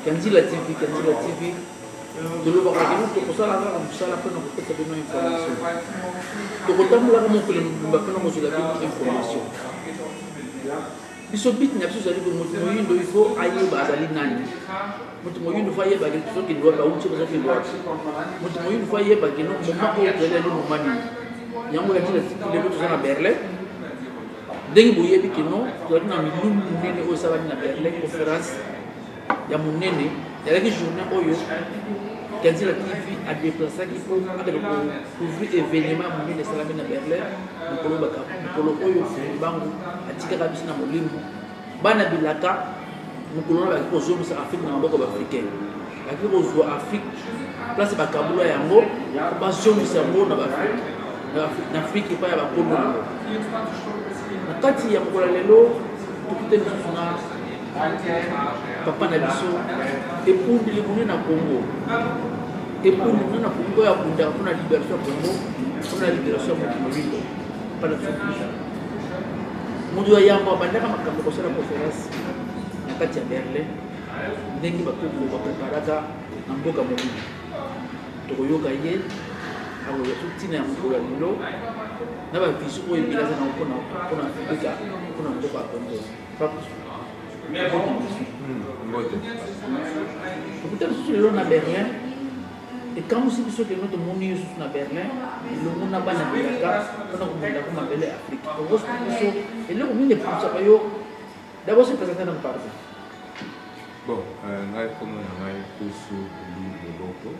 Kanzila TV, Kanzila TV. tolobaka kino tokosala kaka mosala mpo na kopesa bino information tokotambolaka mokili mobimba mpo na kozwela bino information biso bit na biso ezali bo moto moyindo il faut ayeba azali nani moto moyindo fo ayeba ke tozokende wapi awuti tozokende wapi moto moyindo fo ayeba ke no moma oyo tozali ali moma nini yango yati na tiki lelo toza na berlin ndenge boyebi ke no tozali na milulu minene oyo esalami na berlin conférence ya monene ezalaki journée oyo kenzila tv adeplasaki mpo akende kocouvrir événement monene esalami na berlin mokolo bakabo mokolo oyo filibango atikaka biso na molimo bana bilaka mokolo wana baki kozongisa afrique na maboko baafricaine baki kozwa afrique place bakabula yango bazongisa yango na baafrike na afrike epai ya bakono yango na kati ya mokolo lelo tokite lisusu na papa na biso ekundi libuni na congo ekundi libuni na congo ya kundaka mpona liberation ya congo mpona liberation ya mokili mobimbo papa na biso kusa moto ya yambo abandaka makambo kosala conference na kati ya berlin ndenge bakoko bapreparaka na mboka mobili tokoyoka ye akoya so ntina ya mokolo ya lelo na bavision oyo ebelazana mpona mboka ya congo okuta lisusu lelo na berlin ekamwisi biso keno tomoni yo susu na berlin elongo na bana bilaka mpona komenda ko mabele ya afrika okosi biso eloko nini epuisaka yo dabord se présente na mparti bon euh, ngai komo na ngai kusu li loboko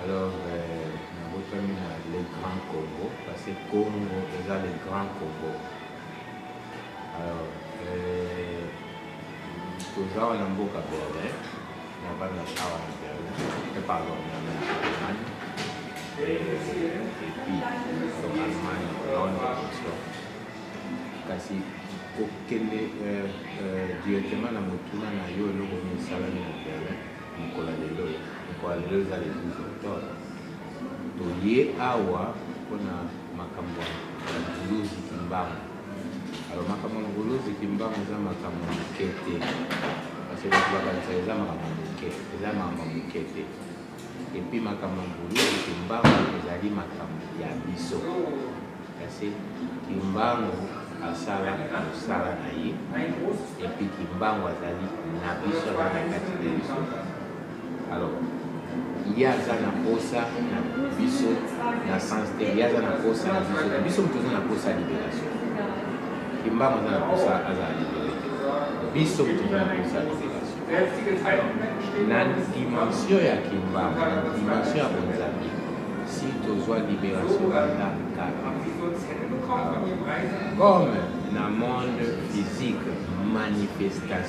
alors euh, nabotami na le grand congo parce que congo eza le grand congo Alors, euh, toza wana mboka Berlin, na bana awa na Berlin, eh, pardon, na na Allemagne, et, et puis donc Allemagne, Londres, tout ça. Kasi kokende euh, euh, directement na motuna na yo eloko nini esalami na Berlin mokolo ya lelo mokolo ya lelo eza le 12 octobre Toye awa mpo na makambo ya bolozi kimbangu. Alors makambo ya bolozi kimbangu eza makambo ya moke te, parce que bato bakanisa eza makambo ya moke, eza makambo ya moke te. Epuis makambo ya bolozi kimbangu ezali makambo ya biso, kasi kimbangu asala mosala na ye, epuis kimbangu azali na biso, azali na kati na biso. Alors, ye aza na posa na biso na sens te ye aza na posa na biso na biso moto oza na posa ya liberation kimbangu aza na posa azala libere biso moto oza na posa ya liberation na dimension ya kimbangu na dimension ya bonzambi si tozwa liberation ata kaka comme na monde physique manifestation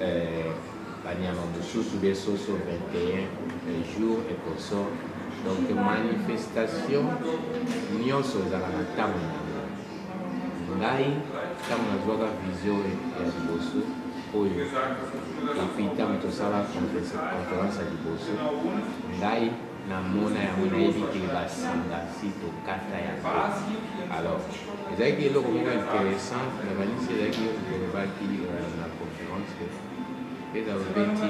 Eh, ba nyama mususu be soso 21 jours et consort. Donc manifestation nionso ezalaka ntango na yango. Ngai ntango nazwaka vision ya liboso oyo epuis ntango tosala conference ya liboso ngai na mona yango nayebi ke basanga si tokata yango alors ezalaki eloko moko interessant na banisi ezalaki yo kolobaki euh, na conférence ke eza obeti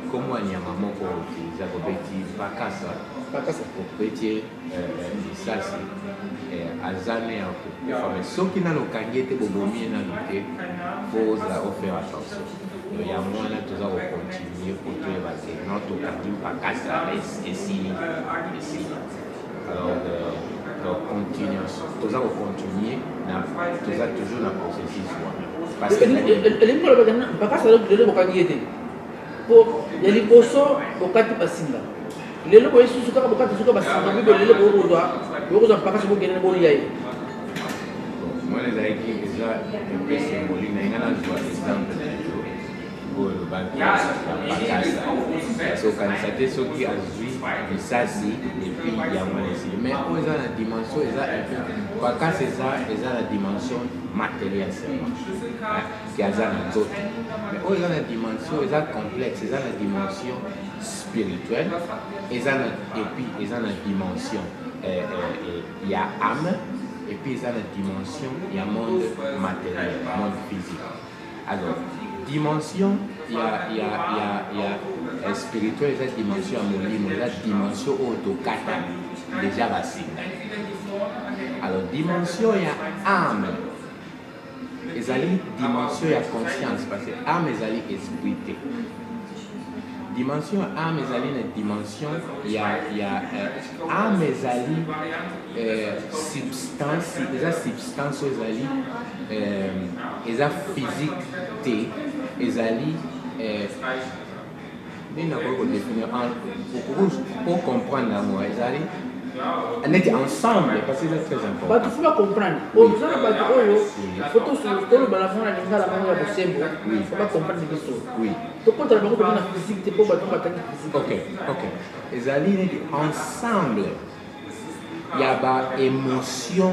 nkombo euh, ya nyama moko okiliza kobeti pakasa pakasa kobeti ye euh, lisasi aza ne ya kokufa mai soki nano okangi ye te bobomi ye nano te po ozala ofere attention Donc yango wana toza ko continuer po toyeba ke non tokangi mpakasi ales esili esili alors donc continuous toza ko continuer na toza toujours na processus wana parce que elingi koloba ke mpakasi alo lelo bokangi ye te po ya liboso bokati basinga lelo boye susu kaka bokati suka basima bibe lelo bokozwa bokozwa mpakasi bokende na boliya ye mwana ezalaki eza mpe symboli na inga nazwa exemple na yo oyo olobaki bakasa kasi okanisa te soki azwi lisasi epi yango na esili mais oyo eza na dimension eza bakasa eza eza na dimension matériel seulement ke aza na nzoto mais oyo eza na dimension eza complexe eza na dimension spirituel eza na epi eza na dimension eh, eh, eh, ya ame epi eza na dimension ya monde matériel monde physique alors dimension ya, ya, ya, ya eh, spirituel eza dimension ya molimo eza dimension oyo tokata deja basinga alors dimension ya ame Ezali dimension ya conscience parce que ame ezali esprit te. Dimension ya ame ezali na dimension ya ya euh, ame ezali euh, substance eza substance oyo ezali euh, eza physique te ezali euh, nini nakoki kodefinir po comprendre yango ezali neti ensemble parce que eza très important bato funa comprendre oza na bato oyo foto toloba na mona lingala bango ya bosembo ba comprendre biso tokotala bango pena na physique te mpo bato batangi physique ok ok ezali neti ensemble ya ba émotion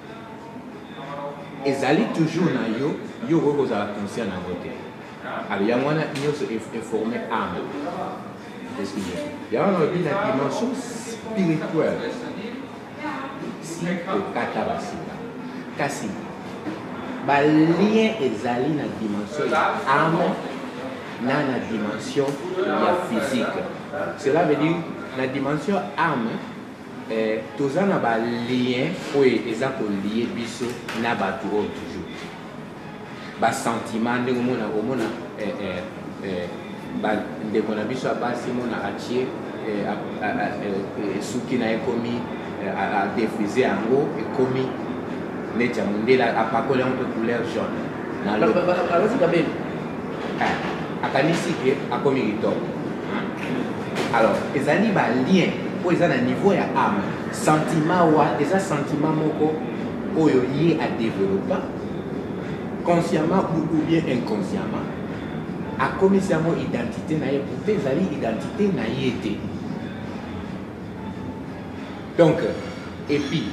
ezali toujours na yo yo okoki kozala conscient na yango te alors yango wana nyonso eforme ame yango nalobi na dimension spirituelle si okata basika kasi balien ezali na dimension ya ame na na dimension ya physique cela veut dire na dimension ame Eh, toza na ba lien oyo eza kolie biso na bato oyo toujours ba sentiment ndenge omona omona eh, eh, eh, bandeko na biso ya basi mona atie eh, eh, esuki eh, na ye ekomi adefrise yango ekomi neti ya mondele apakoli yango mpe couleur jaune Alonso Kabeli akanisi ke akomi kitoko. Alors ezali ba lien oyo eza na niveau ya ame sentiment wa eza sentiment moko oyo ye adevelopa consciemment ou bien inconsciemment akomisi yango identité na ye pourte ezali identité na ye te donc epuis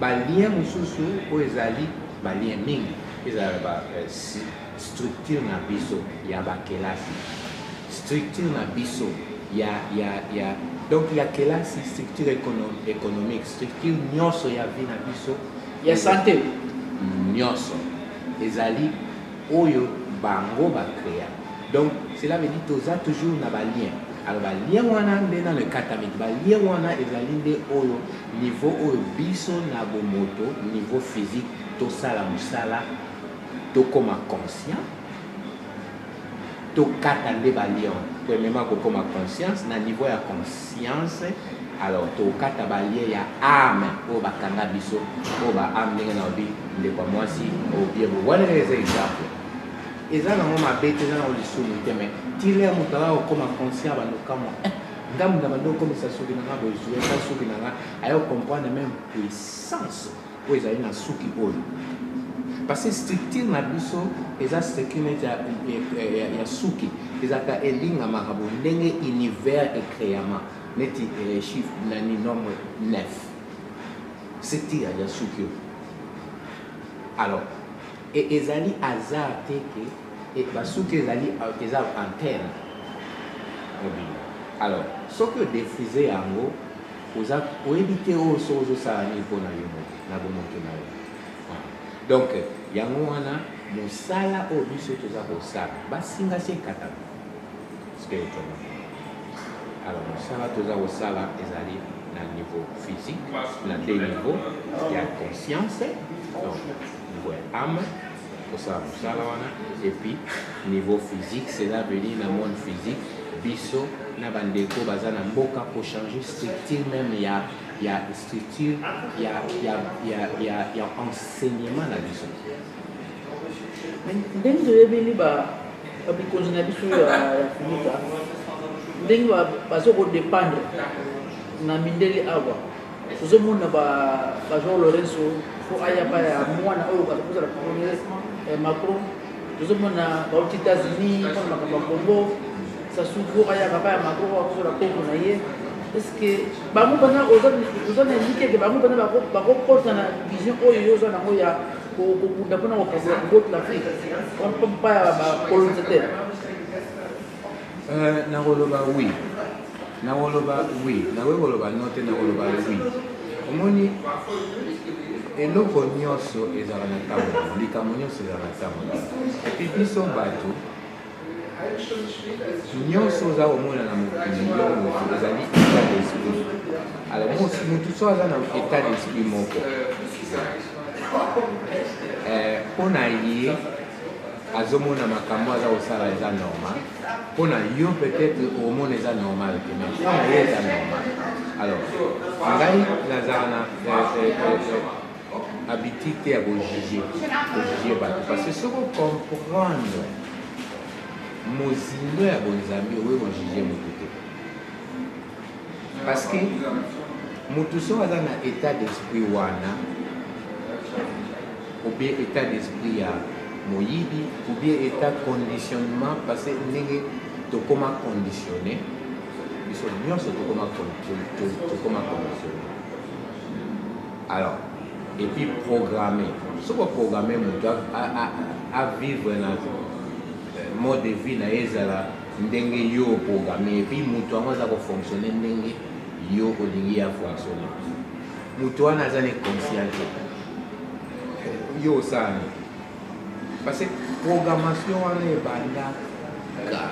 balien mosusu oyo ezali balien mingi Ezala na ba eh, structure na biso ya ba kelasi, structure na biso ya ya ya donc ya kelasi, structure économique, structure nyonso ya vie na biso ya santé nyonso ezali oyo bango ba créa donc cela veut dire toza toujours na ba lien alors ba lien wana nde nano ekatami ba lien wana ezali nde oyo niveau oyo biso na bomoto niveau physique Tosala musala tokoma conscient tokata nde ba lion premièrement kokoma conscience na niveau ya conscience alors tokata balie ya ame oyo bakanga biso oyo ba ame ndenge na obi ndeko mwasi obiebo wana eza exemple eza nango mabe te eza nango lisumu te mai tile ya moto aya kokoma conscient bandokamwa eh, ngambo na bando okomisa soki na nga bozue ka soki na nga ayo comprendre meme puissance Oyo ezali na suki oyo. Parce que structure na biso eza structure neti ya, ya, ya, ya suki ezalaka elingamaka bo ndenge univers ecreama neti eh, chiffre nani nombre 9 structure ya, ya suki oyo alors e, ezali hasard te ke e, basuki ezali eza antenne mobimba alors soki odefrise yango Oza oyebi te oyo so ozosala nini mpo na yo moko na bomoto na yo. Donc yango wana mosala oyo biso toza kosala basinga se ekatana spirituellement. Alors mosala toza kosala ezali na niveau physique, na deux niveau ya conscience, donc niveau ya ame kosala mosala wana epuis niveau physique cela veut dire na monde physique biso na bandeko baza na mboka kochange structure meme ya ya structure ya, ya, ya, ya, ya enseignement na biso ndenge toyebeli bamikonzi na biso ya filika ndenge bazokodependre na mindele awa Ozo mona ba ba João Lourenço faut aya pa ya mwana oyo bazo kozala premier eh, Macron tozo mona ba aux États-Unis pour makambo ya Congo ça s'ouvre aya papa ya Macron oyo akozala kombo na ye est-ce que bango bana ozo ozo na indiquer que bango bana bako bako kota na vision oyo yo ozo nango ya kokunda pona kokabola kobote l'Afrique pa ya ba colonisateur euh, nakoloba oui Nakoloba oui nakoki koloba non te nakoloba oui omoni eloko nyonso ezalaka na ntango yango likambo nyonso ezalaka na ntango yango epi biso bato nyonso oza komona na mokili yo moto ezali état d'esprit alors motu so aza na état d'esprit moko mpo eh, na ye azomona makambo aza kosala eza normal pona yo peut-être omona eza normal te mais pona ye eza normal alors ngai nazala na euh, euh, euh, habitude te ya kojuge kojuge bato parce que soki ocomprendre mozindo ya bonzambe okoki kojuge moto te Parce que mutu soki aza na etat d'esprit wana ou bien état d'esprit ya moyibi ou bien état conditionnement parce que ndenge tokoma conditionne biso nyonso tokoma tokoma conditionne alors et puis programme soki oprogramme moto avivre na mode de vie na ye ezala ndenge yo o programme et puis mutu yango aza ko fonctionner ndenge yo olingi ya fonctionner mutu wana aza na inconscient te yo osala parce que programmation wana ebanda kala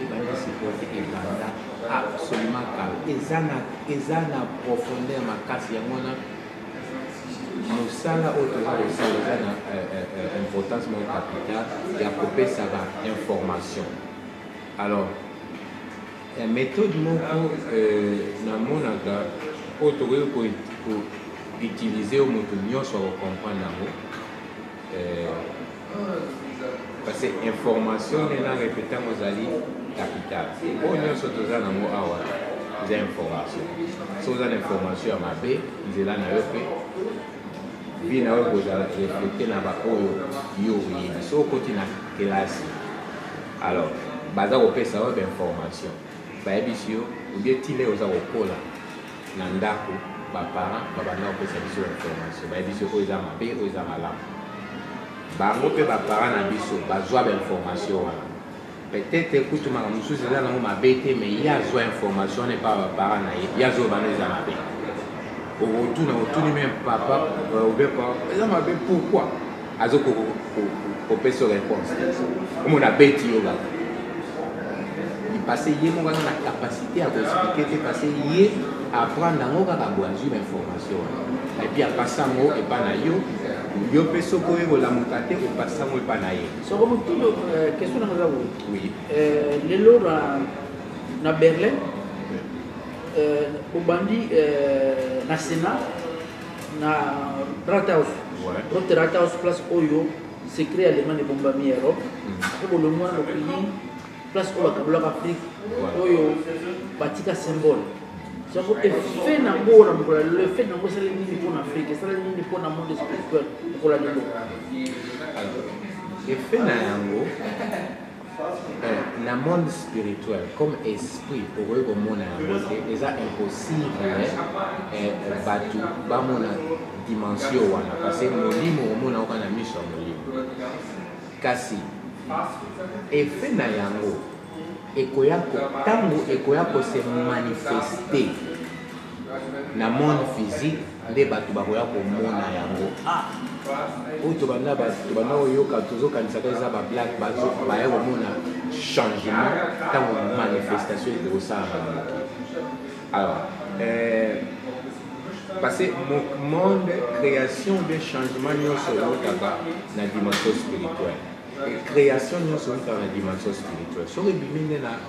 ebanda sikoyo ebanda absolument kala eza na profondeur makasi yango wana mosala oyo toza kosala eza na importance moko capital ya kopesa ba information alors méthode moko namonaka oyo tokoki ko utiliser oyo moto nyonso akocomprendre yango parce que information nde na repeta yango ezali capital oyo nyonso toza nango awa eza information soki oza na information ya mabe nzela na yo mpe bi na yo ekozala reflete na baoyo yo oyebi soki okoti na kelasi alors baza kopesa yo bainformation bayebisi yo obie tile oza kokola na ndaku ba parents ba banda kopesa biso ba information bayebi biso oyo eza mabe oyo eza malamu bango mpe ba parents na biso bazwa ba information wana peut-être kutu makambo mosusu eza nango mabe te mais ye azwa information wana epa bapara na ye ye azwa bana eza mabe okotuna otuni me papa obe papa eza mabe pourquoi azo kopesa réponse omona abeti yo kaka parce ye moko aza na capacité ya koexplike te parce ye aprendre yango kaka bwazwi na information wana epuis apasa yango epa na yo yo mpe soki oye kolamuka te opasa yango epa na ye soko motundo euh, question nango eza boye oui euh, lelo na na berlin euh, obandi na sénat na rathouse rote rathouse place oyo secret ya allemagne ebombami ya europe mpe bolongi wana bokei place oyo bakabolaka afrique oyo batika symbole yango effet na yango na mokolo ya lelo effet na yango esali nini mpo na afrique esali nini mpo na monde spirituel mokolo ya lelo effet na yango Eh, na monde spirituel comme esprit okoki komona yango te eza impossible eh, bato bamona dimension wana parce molimo omona oka na miso ya molimo kasi efe na yango ekoya ntango ekoya kose manifeste na monde physique nde bato bakoya komona yango ah! oyo tobanda tobanda koyoka tozokanisaka eza bablak baya komona changement ntango manifestation ekosala na moke alors euh, parce que monde création de changement nyonso eutaka na dimension spirituelle création nyonso eutaka na dimension spirituelle soki ebimi nde na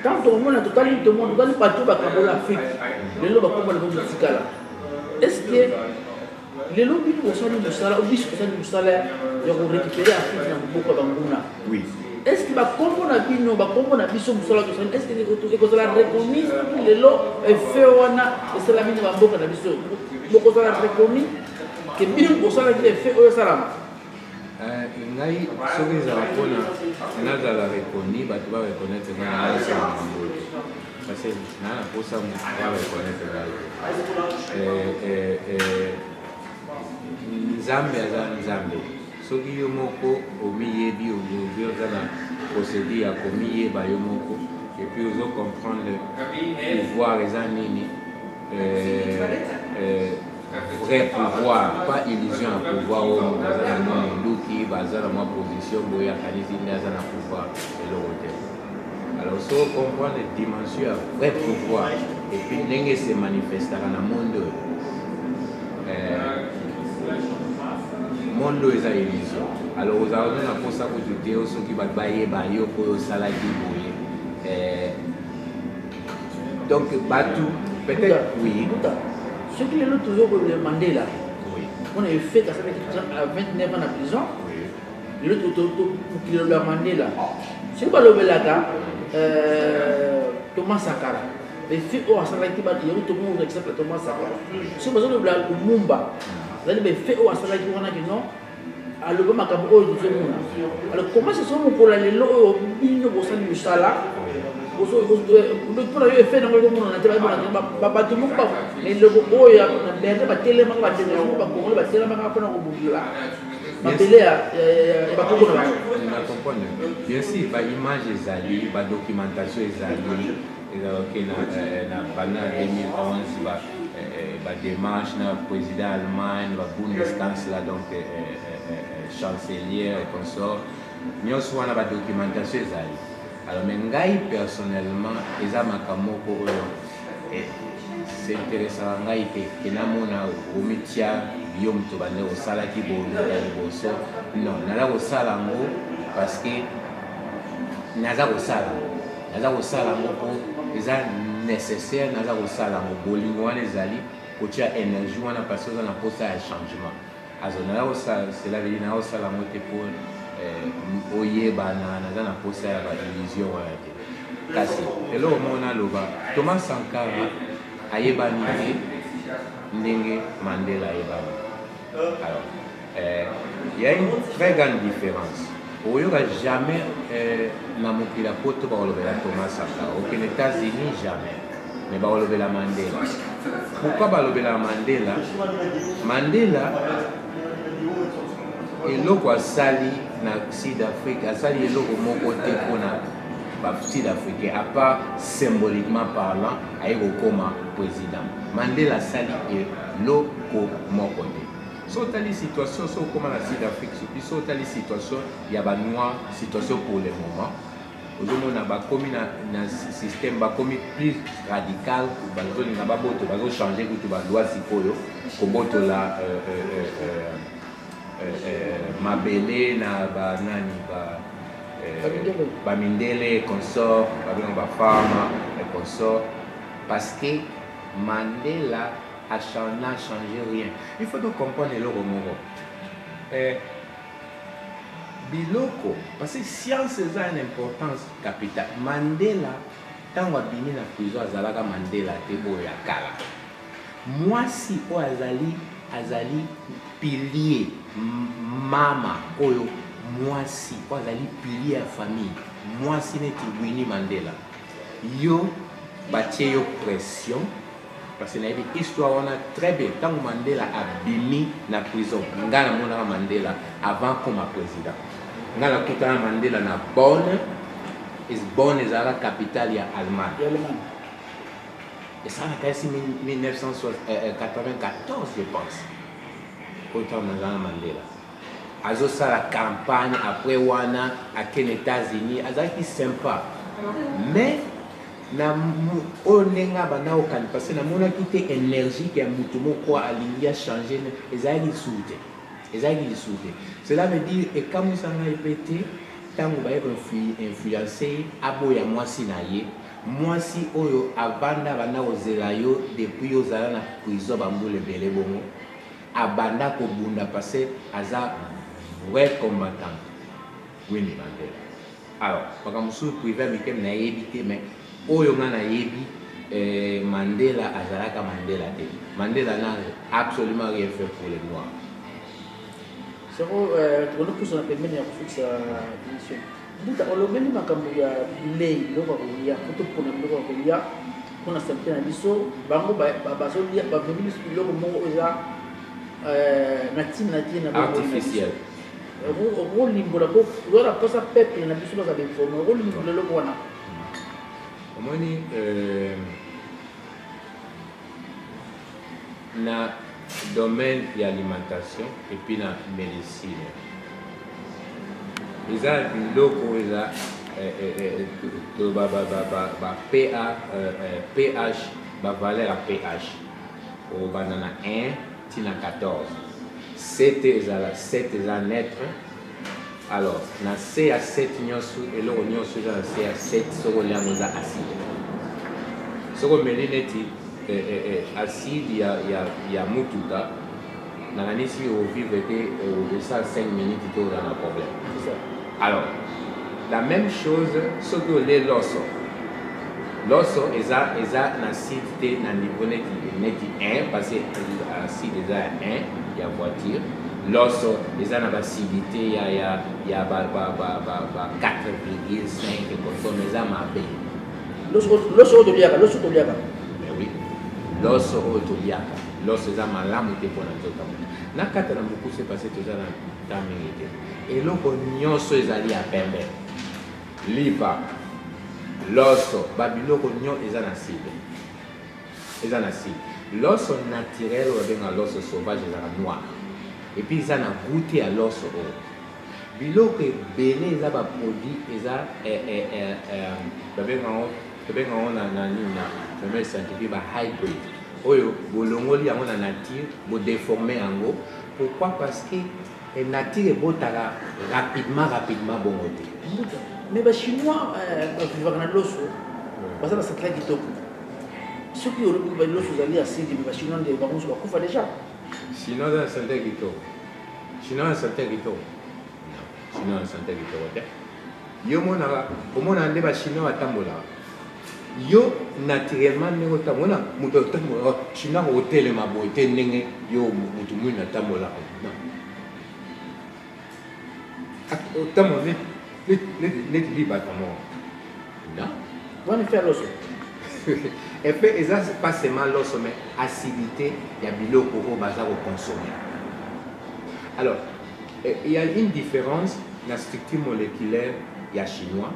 Ntango tokomona totali tomoni totali bato bakabola Afrique lelo bakoma na bango etikala eske lelo bino bosali mosala obiso bosali mosala ya korekipere Afrique na moboko ya banguna eske bakombo na bino bakombo na biso mosala tosali eske ekozala reconi lelo efe wana esalami na bamboka na biso bokozala reconi ke bino bosalaki efe oyo esalama Eh, ngai soki ezala mpona nazala reconi bato ba reconnaitre ngai na nasala na mboto parce naa na mposa moto ba reconnaitre ngai eh, eh, nzambe aza nzambe soki yo moko omiyebi obi oza na procédure ya komiyeba yo moko epuis ozo comprendre pouvoir eza nini vrai pouvoir pas illusion ya pouvoir oyo moto aza na mwa monduki baza na mwa position boye akanisi nde aza na pouvoir eloko te alors so comprendre dimension ya vrai pouvoir epuis ndenge ese manifestaka na monde oyo euh, monde oyo eza illusion alors ozala nde na mposa kutu te soki bato bayeba yo mpo oyo osalaki boye euh, donc batu peut-être oui soki lelo tozo kolobela mandela mpona effet asalaki 29 ans na prison lelo mokili loloba mandela soki balobelaka euh, thomas sakara effet oyo asalaki bato yango tokomi kolakisa pla thomas sakara soki bazolobela lumumba ezali ba effet oyo asalaki wana kino alobi makambo oyo tozomona alors comment ce sont mokolo ya lelo oyo bino bosali mosala mpona yo efe nango ekomonana te bato moko na eloko oyo na berne batelemaka batelemaka moko bakongole batelemaka mpona kobundela mabele ya bakoko na bango bien sûr baimage ezali badocumentation ezali Ezalaki na banda na 2011 ba ba demarche na president Allemagne ba Bundeskanzler donc chancelier et consort nyonso wana ba documentation ezali alors mais ngai personnellement eza makambo moko oyo s'interessaka ngai te ke namona omitya yo moto bande osalaki boye ya liboso non naza kosala yango parce que naza kosala naza kosala yango mpo eza nécessaire naza kosala yango bolingo wana ezali kotya énergie wana parce oza na mposa ya changement azo naza kosala cela veut dire naza kosala yango te mpo eh, oyebana naza na mposa ya baillusion wana te kasi eloko moko naloba thomas sankara ayebani te ndenge mandela ayebani alors Eh, il y a une très grande différence. Oyoka jamais eh, na mokili ya poto bakolobela Thomas Sankara. Okende États-Unis jamais. Mais bakolobela Mandela. Pourquoi balobela Mandela? Mandela eloko asali na Sud Afrique asali eloko moko te mpona sud africain à part symboliquement parlant aye kokoma président mandela asali eloko moko te So otali situation so okoma na Sud Afrique soki so otali situation ya ba noir situation pour le moment ozomona bakomi na, na système bakomi plus radical bazolinga baboto bazochange kutu baloi sikoyo kobotola euh, euh, euh, euh, euh, mabele na banani ba, euh, bamindele consort babengaka bafarma consort parce que mandela Acharna change rien. Il faut to comprendre eloko moko. Eh, biloko parce que science eza une importance capitale. Mandela ntango abimi na prison azalaka Mandela te oyo ya kala. Mwasi oyo azali azali pilier mama oyo mwasi oyo azali pilier ya famille mwasi neti Winnie Mandela yo batie yo pression Parce nayebi histoire wana très bien tango Mandela abimi na prison nga na monaka Mandela avant koma president nga na kutana Mandela na Bonn is Bonn ezalaka capitale ya Allemagne esalaka esi 1994 je pense oyo ntango naza na mandela azosala campagne après wana akende états-unis azalaki sympa mais Na oyo nde nga banda kokani parce que namonaki te energique ya mutu moko alingi a changer ezalaki lisusu te ezalaki lisusu te cela veut dire ekamwisa ngai mpe te ntango baye ko influence ye aboya mwasi na ye mwasi oyo abanda banda kozela yo depuis ozala na prison bambula ebele bongo abanda kobunda parce aza vrai combattant Winnie Mandela alors makambo mosusu prive ya mike na yebi te mais oyo nga na yebi eh, Mandela azalaka Mandela te. Mandela n'a absolument rien fait pour les noirs. Soko euh, tokoki kozala pembeni ya kofutisa émission buta olobeli makambo ya bilei biloko ya kolia po topona biloko ya kolia mpo na salite na biso bango bazolia bamemi biso biloko moko eza euh, na ntina na te na artificiel okolimbola po oza na mposa peuple na biso bazala informe okolimbola eloko wana omoni euh, na domaine ya alimentation epuis na médecine eza biloko eza euh, euh, ba ph bavaleur ya ph obanda na 1 ti na 14 7 ezala 7 eza netre alors na se ya 7 nyonso eloko nyonso eza na se ya 7 soko oliango eza acide soko omeli neti eh, eh, eh, acide ya, ya, ya mutuka nakanisi ovivre te eza 5 minutes te oza na problème Alors la meme chose soki olie loso loso eza eza na site te na niveau neti neti 1 parce que euh, site eza ya 1 ya voiture loso eza na basilite ya ya ya ba ba ba ba ba 4,5 ekosono eza mabe loso oyo toliaka loso toliaka eh oui loso oyo toliaka loso eza malamu te mpona nzoto na kata na mokuse parce toza na temps mingi te Eloko nioso ezali ya pembe, lipa, loso, ba biloko nio eza na sud. Eza na sud. Loso naturel oyo babenga loso sauvage ezalaka noir. Et puis eza na goût te ya loso oyo. Biloko ebele eza ba produits eza eh, eh, eh, eh, babenga yango babenga yango na na nini na domaine scientifique ba hybrid oyo bolongoli yango na nature, bo deformer yango. Pourquoi? Parce que Et nature ebotaka rapidement rapidement bongo te. Mbuta. Mais ba chinois euh, ba vivaka na loso. Baza na sakla kitoko. Soki olobi ba loso zali asidi mais ba chinois nde bango so bakufa déjà. Chinois za santé kitoko. Chinois za santé kitoko. Chinois za santé kitoko te. Yo omonaka omonaka nde ba chinois batambolaka yo naturellement ndenge otambola na moto otambola oh, chinois kotelema boye te ndenge yo moto mwini atambolaka otambola neti libata moko na wana efe ya loso efe eza pas seulement loso mais acidité ya biloko oyo baza kokonsome alors Il ya une difference na structure moleculaire ya chinois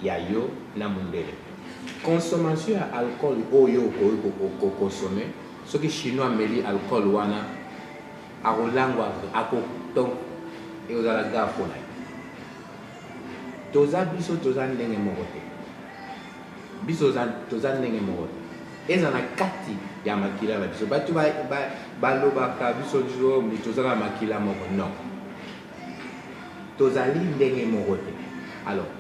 ya yo na mundele. Consommation ya alcool oyo okoki ko consommer soki chinois ameli alcool wana akolangwa ako donc ekozala grave pona ye. Toza biso toza ndenge moko te. biso toza ndenge moko te eza na kati ya makila na biso bato balobaka biso nzomi tozaka makila moko no tozali ndenge moko te alors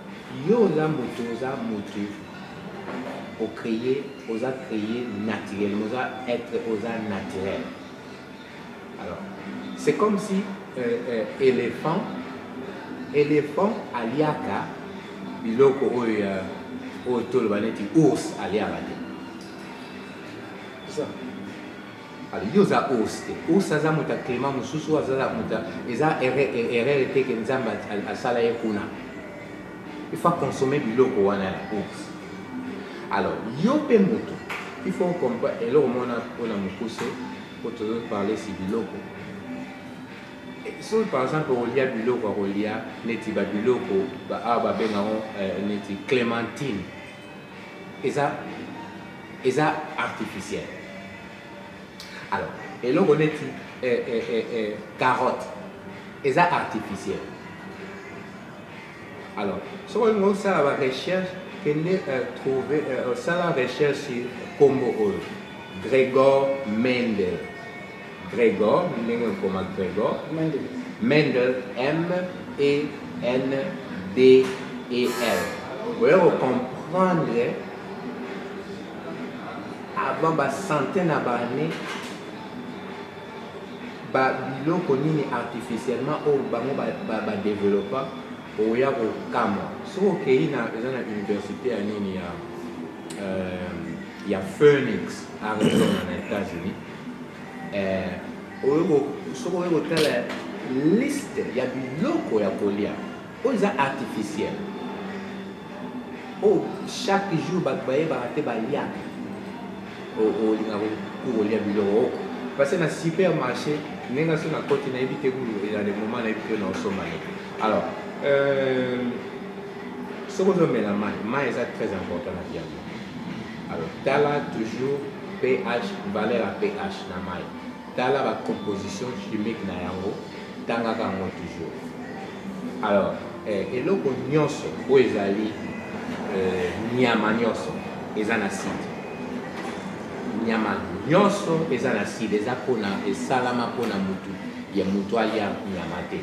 yo oza moto oza moto ocreye oza creye naturellement oza être oza naturel Alors, c'est comme si euh, euh, éléphant, éléphant aliaka biloko oyo ya oyo toloba neti ours aliaka te. Ça. Alors, yo oza ours te. Ours aza moto ya climat mosusu, oyo aza moto ya- eza erreur erreur te ke Nzambe a- asala ye kuna. Il faut consommer biloko wana ya ours. Alors, yo mpe moto, il faut comprendre eloko mona mpona mokuse Po tozo parler si biloko soki par exemple olia biloko ya kolia neti ba biloko ba awa ah, babenga yango euh, neti clementine eza eza artificiel alors eloko neti eh, eh, eh, eh, carotte eza artificiel Alors, soki olingi osala ba recherche, kende euh, trouver euh, osala recherche sur kombo oyo Gregor Mendel. Gregor, ndenge okoma Gregor Mendel. Mendel M E N D E L. Oya ko comprendre avant ba centaines na ba années Ba biloko nini artificiellement oyo bango ba developpa oya ko kamwa soki okeyi na eza na universite ya nini ya euh, ya Phoenix Arizona na Etats-Unis euh, soki oyo kotala liste ya biloko ya kolia Oyo eza artificiel. Oh, chaque jour bato bayebaka te baliaka. Olinga kolia biloko oko. Parce na supermarché, ndenge so nakoti nayebi te kutu eza le moment nayebi te na osomba nini. Alors, euh, soki ozomela mai, mai eza très important na vie yango. Alors, tala toujours pH, valeur ya pH na mai. Tala ba compositions chimiques na yango, tangaka yango toujours. Alors, eh, eloko nyonso oyo ezali eh, nyama nyonso eza na site nyama nyonso eza na sida eza mpona esalama mpona motu ya motu alya nyama te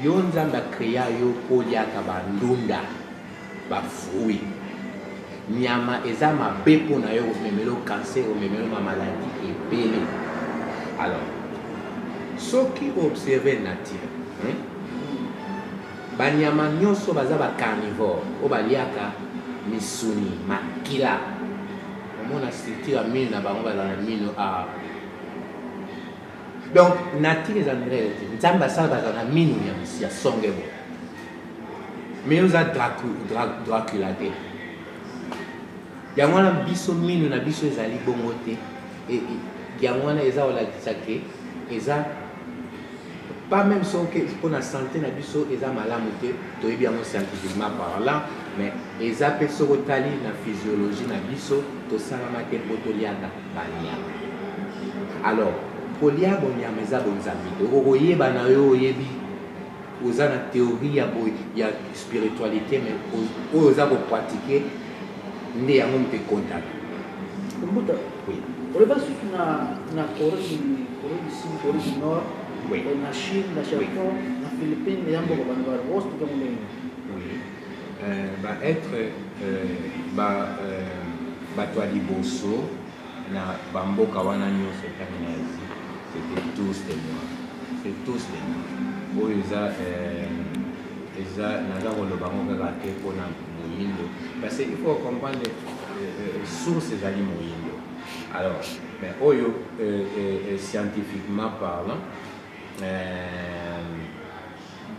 yo nzambe akrea yo mpo olyaka bandunda ba fruits nyama eza mabe mpo na yo omemeli o cancer omemeli ma maladie ebele alors soki observe nature hein? banyama nyonso baza ba carnivore oyo baliaka misuni makila omona structure ya mino na bango bazala na mino a ah. donc nature eza ndrete nzambe asala bazala na mino ya songe boye mais oza dracula te yango wana biso mino na biso ezali bongo te e, e, yango wana eza kolakisa ke eza pas même soki mpo na sante na biso eza malamu te toyebi yango scientifiquement parlant mais eza mpe soki otali na physiologie na biso tosalama te mpo toliaka banyama alors kolia bonyama eza bonzambi te okoyeba na yo oyebi oza na theorie ya boye ya spiritualité mais oyo oza ko pratiquer nde yango moto ekontana mbuta oloba suki na na corée corée du sud corée du nord na chine na japon na philippines ya mboka bana ba rose to kama ndenge ba être euh, ba euh, bato ya liboso na ba mboka wana nioso tangu na Asie c'etait tous des noirs c'est tous des noirs oyo eza euh, eza naza koloba ngo kaka te pona moyindo parce que il faut comprendre euh, euh, source ezali moyindo alors mais oyo euh, euh, euh, scientifiquement parlant euh,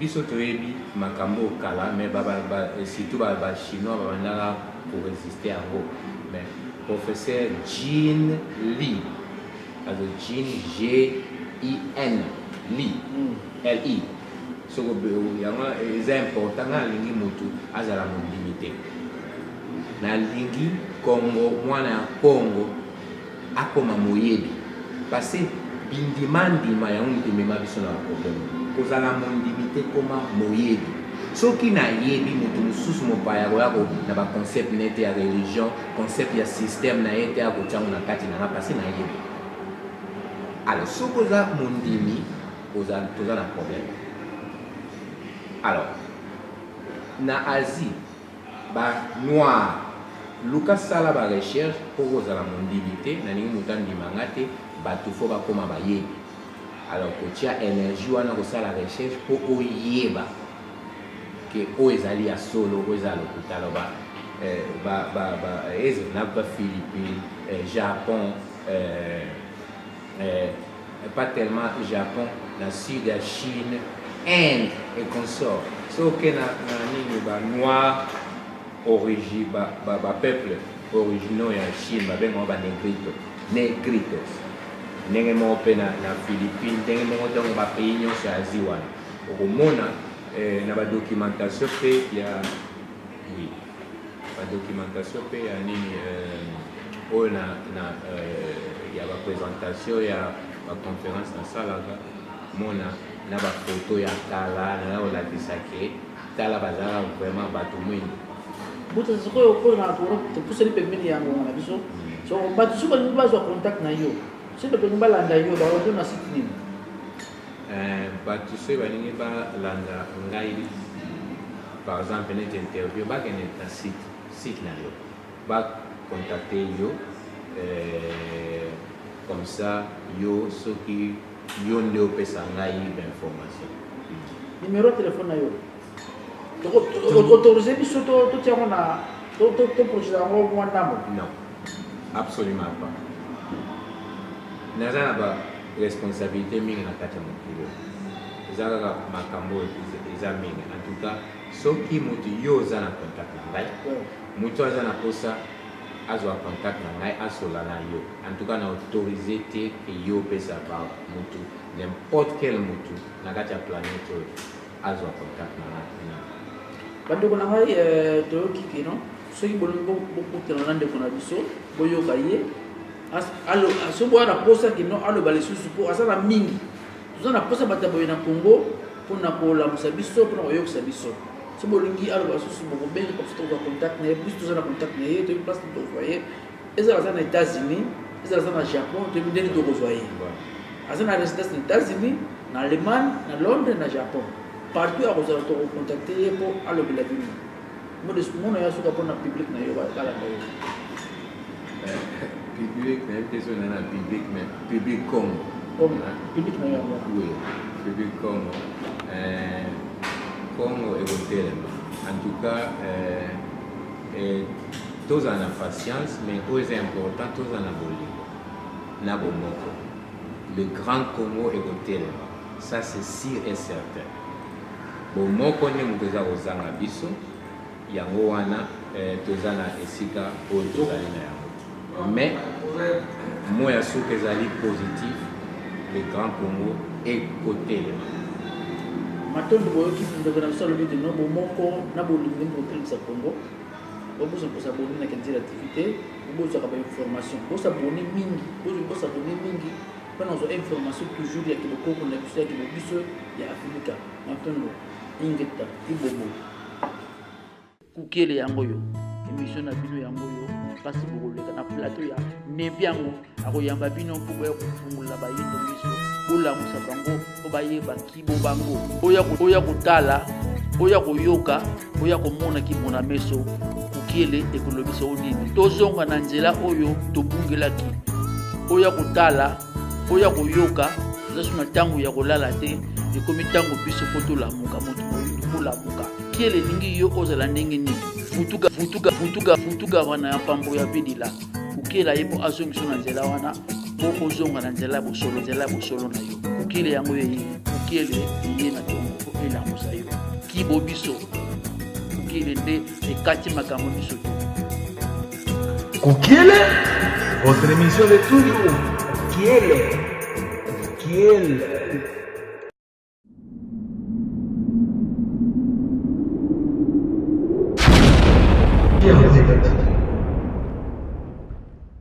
Biso toyebi makambo oyo kala mais ba ba surtout ba ba chinois ba bandaka ko resister yango mais professeur Jean Li azo Jean G I N Li hmm. L I soko yango eza important nga nalingi mutu azala mondimi te nalingi kongo mwana ya kongo Akoma moyebi parce bindima ndima yango moto emema biso na ba problème. Kozala mondimi te koma moyebi. Soki na yebi moto mosusu mopaya akoya ko na ba concept na ye te ya religion, concept ya système na ye te ako tia ngo na kati na nga parce na yebi. Alors soki oza mondimi oza toza na problème. Alors na Asie Ba noir luka sala ba recherche po kozala mondimi te nalingi mutu andima nga te batu faut bakoma bayebi alors kotia energie wana kosala recherche po oyeba que oyo ezali ya solo oyo eza ya lokuta loba eh, ba ba ba eh, ezala na ba Philippines eh, Japon eh, Eh, pas tellement Japon, na sud ya Chine, Inde et consort. Soki oke na, na nini ba noir origi ba, ba, ba peuple originaux ya Chine babengaka ba negrito, negritos. Ndenge moko mpe na, na Philippines, ndenge moko ntango ba pays nyonso ya Asie wana okomona eh, na ba documentation mpe ya oui. ba documentation pe ya nini euh, oyo na, na euh, ya ba presentation ya ba conference nasalaka mona na ba photo ya kala naza kolakisa ke tala bazalaka vraiment bato mwindu buta sikoyo okoyo na topuseli pembeni ya ngonga na biso mm. so bato soki balingi bazwa contact na yo soki bato balingi balanda yo baoyo na site nini Eeh batu soki balingi ba landa ngai par exemple neti interview ba kende na site site na yo ba contacte yo eeh comme ça yo soki yo nde opesa ngai ba information. Numero ya telephone na yo o autorise biso to to tia ngo na to to to projeter ngo mwa ndambo? Non absolument pas naza na ba responsabilite mingi na kati ya mokili oyo eza kaka makambo oyo eza mingi en tout cas soki moto yo oza na contact na ngai moto aza na posa azwa contact na ngai asola na yo en tout cas na autorise te ke yo opesa ba motu n'importe quel motu na kati ya planète oyo azwa contact na nga bien. Bandeko na ngai euh, toyoki ke non soki bolingi bokutana na ndeko na biso boyoka ye soki boya na posa ke non aloba lisusu mpo aza na mingi toza na posa bato ya boye na congo mpona kolamusa biso mpona koyokisa biso soki bolingi aloba lisusu bokobenga kofuta kozwa contact na ye plus toza na contact na ye toyebi place tokovaye ezala aza na Etats-Unis ezala aza na Japon toyebi ndenge tokozwa ye aza na residence na Etats-Unis na Allemagne na Londres na Japon partout akozala tokocontacte ye mpo alobela bino mono ya suka mpona public na yo balanda yo public na yebi te soki na na public me public congo public na yango oui public congo congo ekotelema en tout cas Eh, tozala na patience mais oyo eza important tozala na bolingo na bomoko le grand congo ekotelema ça c'est sûr et certain bomoko nde moto eza kozanga biso yango wana eh, toza na esika oyo tozali na yango Mais mot ya suka ezali positif, le grand Congo est kotelema. Matondo boyoki ndeko na biso alobi dino bomoko na bolingo nini botelisa Congo bobosa kosa boni na Kenzela TV te bobozaka ba information bosa boni mingi bozo bosa boni mingi mpo nazwa information toujours ya kibokoko na biso ya kibobiso ya Afrika matondo ingeta ibobo kukele yango oyo emission na bino yango oyo mpasi bokoleka na plateau ya nebi yango akoyamba bino mpo boya kofungola bayindo miso bolamusa bango mpo bayeba kibo bango oya kotala oya koyoka oya komona kimona meso kukele ekolobisa o nini tozonga na nzela oyo tobungelaki oya kotala oya koyoka eza so na ntango ya kolala te ekomi ntango biso mpo tolamuka moto moyindo kolamuka kiele elingi yo ozala ndenge nini futuka futuka futuka futuka wana ya mpambo ya bidila kokela ye mpo azongisa na nzela wana mpo ozonga na nzela ya bosolo nzela ya bosolo na yo kokele yango eye kokele eye na tongo mpo elamusa yo kibo biso kokele nde ekati makambo biso te Kukiele, votre émission de toujours. Kukiele, Kukiele. Yeah,